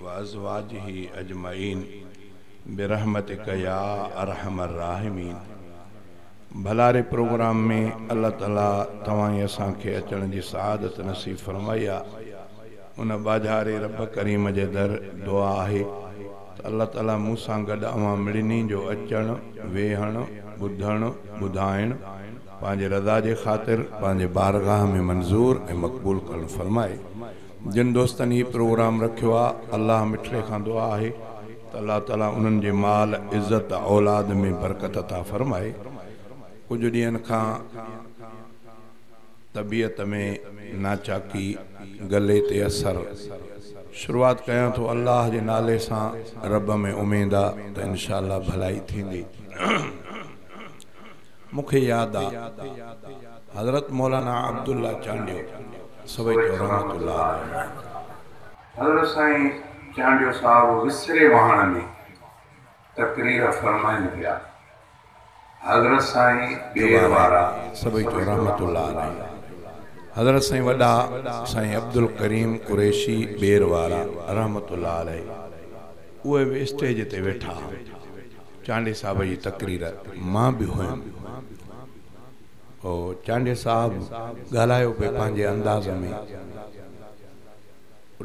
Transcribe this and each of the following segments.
وازواجه اجمعين برحمتک يا ارحم الراحمين ڀلا ري پروگرام ۾ الله تعالي توهان ۽ اسان کي اچڻ جي سعادت نصيب فرمائي آ ان ٻاجهاري رب ڪريم جي در دعا آهي ته الله تعالي مون سان گڏ اوهان مڙني جو اچڻ ويهڻ ٻڌڻ ٻڌائڻ پنهنجي رضا جي خاطر پنهنجي بارگاهه ۾ منظور ۽ مقبول ڪرڻ فرمائي جن دوستن هي پروگرام رکيو آ الله مٺڙي کان دعا آهي ته الله تعالي انهن جي مال عزت اولاد ۾ برڪت عطا فرمائي ڪجهه ڏينهن کان طبيعت ۾ ناچاڪي گلي تي اثر شروعات ڪيان ٿو الله جي نالي سان رب ۾ اميد آ ته انشاء الله ڀلائي ٿيندي. مون کي ياد آ حضرت مولانا عبدالله چانڊيو سويتو رحمة الله عليه آهن. حضرت سائين چانڊيو صاحب وسري واهڻ ۾ تقرير فرمائين پيا. حضرت سائين ٻير وارا سويتو رحمة الله عليه حضرت سائين وڏا سائين عبدالڪريم قريشي ٻير وارا رحمة الله عليه اهي به اسٽيج تي ويٺا ها. چانڊيي صاحب جي تقرير مان به هيم هو چانڊيي صاحب ڳالهايو پئي پنهنجي انداز ۾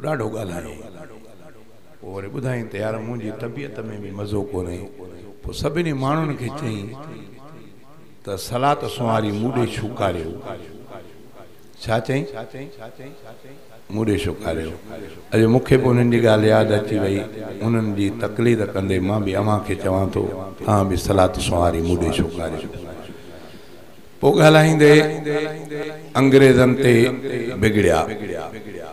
ڏاڍو ڳالهايائين پوء وري ٻڌائين ته يار منهنجي طبيعت ۾ به مزو ڪونهي پوء سڀني ماڻهن کي چئين ته صلات سنواري مون ڏي ڇوڪاريو ڇا چئين؟ مون ڏي شڪاريو. اڄ مون کي به انهن جي ڳالهه ياد اچي وئي. انهن جي تقليد ڪندي مان به اوهان کي چوان ٿو، اوهان به صلات سنواري مون ڏي شڪاريو. پوء ڳالهائيندي انگريزن تي بگڙيا.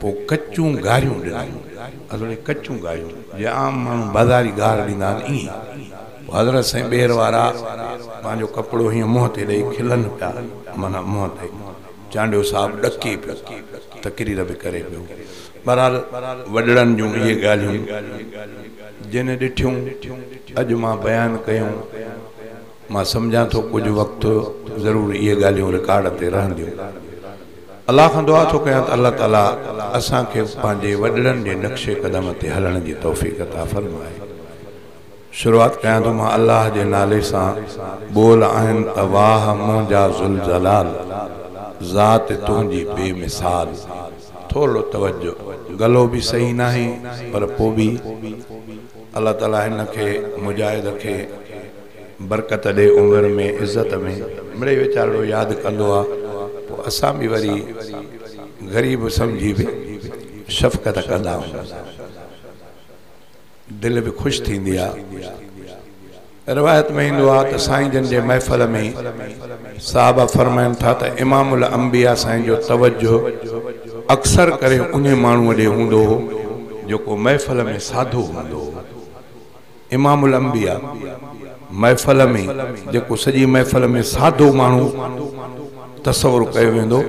پوء ڪچون گاريون ڏنائون. اصل ۾ ڪچون گاريون، جيئن عام ماڻهو بازاري گار ڏيندا آهن، ائين. پوء حضرت سائين ٻير وارا پنهنجو ڪپڙو هيئن منهن تي ڏئي کلن پيا، معنيٰ منهن تي. چانڊيو صاحب ڏڪي پيو، تقرير به ڪري پيو. بهرحال وڏڙن جون اهي ڳالهيون جن ڏٺيون اڄ مان بيان ڪيون. مان سمجهان ٿو ڪجهه وقت ضرور اهي ڳالهيون رڪارڊ تي رهنديون. الله کان دعا ٿو ڪيان ته الله تعاليٰ اسان کي پنهنجي وڏڙن جي نقش قدم تي هلڻ جي توفيق عطا فرمائي. شروعات ڪيان ٿو مان الله جي نالي سان، ٻول آهن ته واهه منهنجا ذوالجلال، ذات تنهنجي بي مثال. ٿورڙو توجه، گلو به صحيح ناهي پر پو به الله تعاليٰ هن کي مجاهد کي برڪت ڏي عمر ۾ عزت ۾ مڙئي ويچارڙو ياد ڪندو آ پو اسان به وري غريب سمجهي به شفقت ڪندا آهيون. دل به خوش ٿيندي آ. روايت ۾ ايندو آ ته سائين جن جي محفل ۾ صحابه فرمائن ٿا ته امام الانبياء سائين جو توجه اڪثر ڪري انهي ماڻهوء ڏي هوندو هو جيڪو محفل ۾ ساڌو هوندو هو. امام الانبياء محفل ۾ جيڪو سڄي محفل ۾ ساڌو ماڻهو. تصور ڪيو ويندو.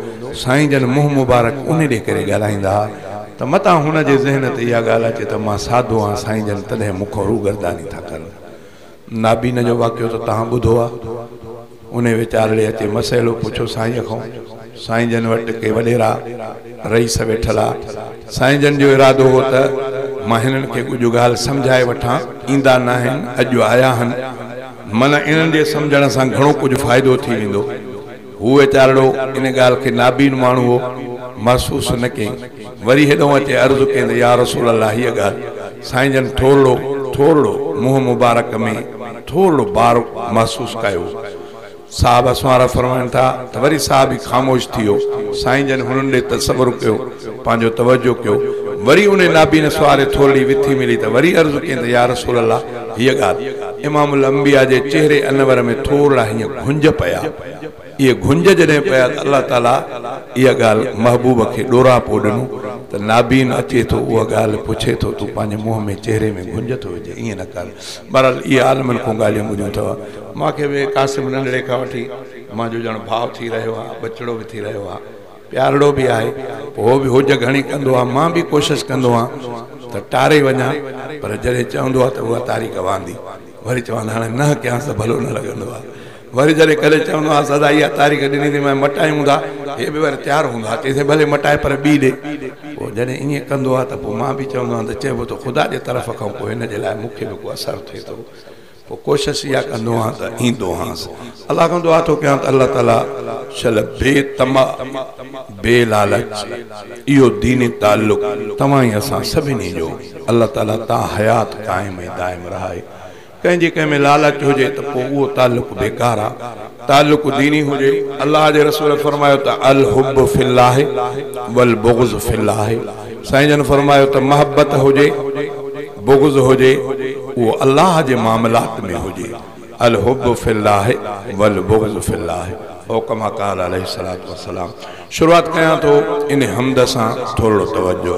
سائين جن منهن مبارڪ انهي ڏي ڪري ڳالهائيندا ها ته متان هن جي ذهن تي اها ڳالهه اچي ته مان ساڌو آهيان سائين جن تڏهن مون کان روگرداني ٿا ڪن. نابينا جو واقعو ته توهان ٻڌو آ. انهي وچارڙي اچي مسئلو پڇيو سائينء کان. سائين جن وٽ ڪي وڏيرا، رئيس ويٺل آ. سائين جن جو ارادو هو ته مان هنن کي ڪجهه ڳالهه سمجهائي وٺان. ايندا ناهن، اڄ آيا هن. من انهن جي سمجهڻ سان گهڻو ڪجهه فائدو ٿي ويندو. هو ويچارڙو ان ڳالهه کي نابين ماڻهو هو، محسوس نه ڪيئي. وري هيڏهون اچي عرض ڪيئي ته يا رسول الله هيء ڳالهه سائين جن ٿورڙو، ٿورڙو، منهن مبارڪ ۾ ٿورڙو بار محسوس ڪيو. صاحب اسوارا فرمائن ٿا ته وري صاحب ئي خاموش ٿي ويو. سائين جن هنن ڏي تصور ڪيو، پنهنجو توجه ڪيو. وري انهي نابين اسواري ٿورڙي وٿي ملي ته وري عرض ڪيائين ته يا رسول الله هيء ڳالهه. امام الانبياء جي چهري انور ۾ ٿورڙا هيئن گهنج پيا. اهي گهنج جڏهن پيا ته الله تعاليٰ اها ڳالهه محبوب کي ڏوراپو ڏنو ته نابين اچي ٿو اها ڳالهه پڇي ٿو تون پنهنجي منهن ۾ چهري ۾ گهنج ٿو وجهين ائين نه ڪر. بهرحال اهي عالمن کان ڳالهيون ٻڌيون اٿئو. مان کي به قاسم ننڍڙي کان وٺي مان جو ڄڻ ڀاء ٿي رهيو آهي، ٻچڙو به ٿي رهيو آهي، پيارڙو به آهي، هو به هوڄ گهڻي ڪندو آهي، مان به ڪوشش ڪندو آهيان ته ٽاري وڃان، پر جڏهن چوندو آهي ته اها تاري گواندي، وري چوان هاڻي نه ڪيانس ته ڀلو نه لڳندو آهي. وري جڏهن ڪڏهن چوندو آهيانس ادا اها تاريخ ڏني اٿئي مانء مٽايون ٿا، هي به وري تيار هوندو آهي چئي ٿي ڀلي مٽائي پر ٻي ڏي. پوء جڏهن ائين ڪندو آهي ته پوء مان به چوندو آهيان ته چئبو ته خدا جي طرف کان پوء هن جي لاء مون کي به ڪو اثر ٿئي ٿو. پوء ڪوشش اها ڪندو آهيان ته ايندو هانس. الله کان دعا ٿو ڪيان ته الله تعاليٰ شل بي طمع بي لالچ اهو ديني تعلق توهان ۽ اسان سڀني جو الله تعاليٰ تاحيات قائم ۽ دائم رهائي. ڪنهن جي ڪنهن ۾ لالچ هجي ته پوء اهو تعلق بيڪار آهي. تعلق ديني هجي، الله جي رسول فرمايو ته الحب في الله والبغض في الله سائين جن فرمايو ته محبت هجي، بغض هجي اهو الله جي معاملات ۾ هجي الحب في الله والبغض في الله او ڪما قال عليه الصلاة والسلام شروعات ڪيان ٿو ان حمد سان ٿورڙو توجه.